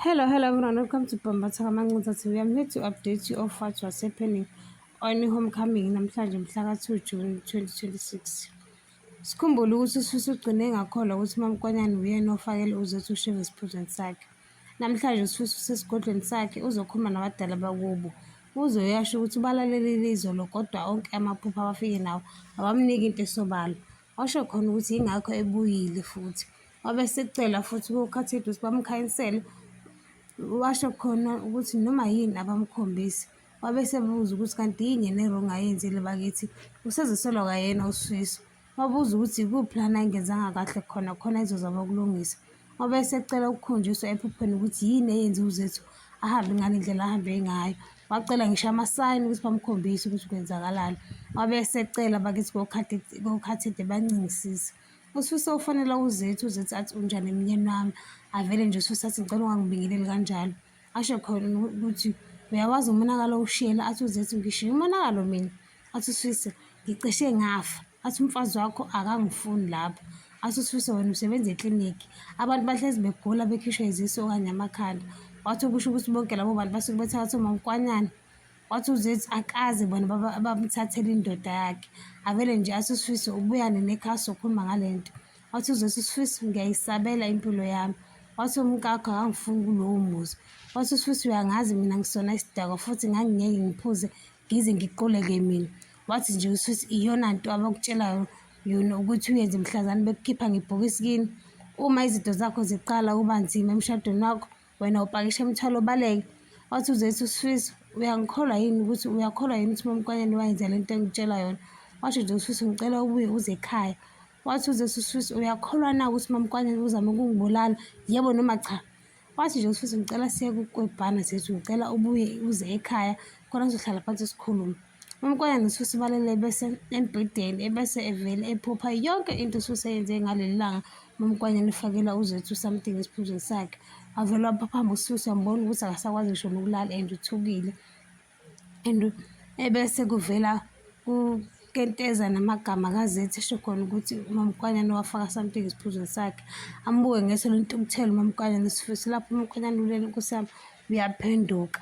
Hello, hello everyone. Welcome to Bambatha Kamancinza TV. I'm here to update you of what was happening on homecoming namhlanje mhla ka-2 June 2026. Sikhumbule ukuthi usifisa ugcine ngakholwa ukuthi uMamkwanyana uyena ofakele uZethu usheve esiphuzweni sakhe. Namhlanje usifisa usesigodlweni sakhe uzokhuluma nabadala bakubo. Uze uyasho ukuthi ubalalelile izolo kodwa onke amaphupho abafike nawo awamniki into esobala. Washo khona ukuthi yingakho ebuyile futhi. Wabe sekucela futhi kuKhathide ukuthi bamkhanyisele, washo khona ukuthi noma yini abamkhombisi. Wabe sebuza ukuthi kanti yini yena erong ayenzile bakithi, usezisola kwayena uSifiso. Wabuza ukuthi ikuphi lana engenzanga kahle khona khona ezozama ukulungisa. Wabe secela ukukhunjiswa ephupheni ukuthi yini eyenze uZethu ahambe ngale ndlela ahambe ngayo. Wacela ngisho amasayini ukuthi bamkhombise ukuthi kwenzakalani. Wabe secela bakithi koKhathide bancingisise. Ususe ufonela uZethu, uZethu athi unjani emnyeni wami. Avele nje ususe athi ngicela ungangibingeleli kanjalo. Asho khona ukuthi uyawazi umonakalo ushiyela athi uZethu ngishiye umonakalo mina. Athi ususe ngicishe ngafa. Athi umfazi wakho akangifuni lapho. Athi ususe wena usebenza eklinikhi. Abantu bahlezi begula bekhishwa izisu okanye amakhanda. Wathi ukusho ukuthi bonke labo bantu basuke bethatha umamkwanyana. wathi uzethi akaze bona babamthathele indoda yakhe avele nje asisifise ubuyane nekhasi okhuluma ngale nto wathi uzethi usifise ngiyayisabela impilo yami wathi umkakho akangifuni kulowo muzi wathi usifise uyangazi mina ngisona isidakwa futhi ngangingeke ngiphuze ngize ngiqoleke mina wathi nje usifise iyona nto abakutshelayo yona ukuthi uyenze mhlazane bekukhipha ngebhokisi kini uma izinto zakho ziqala uba nzima emshadweni wakho wena upakisha imithwalo obaleke wathi uzethu usifiso uyangikholwa yini ukuthi uyakholwa yini ukuthi mamkwanyane wayenza le nto engitshela yona washo nje usifiso ngicela ubuye uze ekhaya wathi uzethu usifiso uyakholwa na ukuthi mamkwanyane uzame ukungibulala yebo noma cha wathi nje usifiso ngicela siye kukwebhana zethu ngicela ubuye uze ekhaya khona sizohlala phansi sikhulume Umkonyane ususibalele ebese embhedeni ebese evele ephupha yonke into ususeyenze ngaleli langa umkonyane ufakela uzethu something esiphuzweni sakhe wavele waphaphamba ususu wambona ukuthi akasakwazi ngisho nokulala and uthukile and ebese kuvela kenteza namagama kazethi esho khona ukuthi umamkwanyana wafaka something esiphuzweni sakhe ambuke ngeso lentukuthelo umamkwanyana sifuthi lapho umamkwanyana ulele kusami uyaphenduka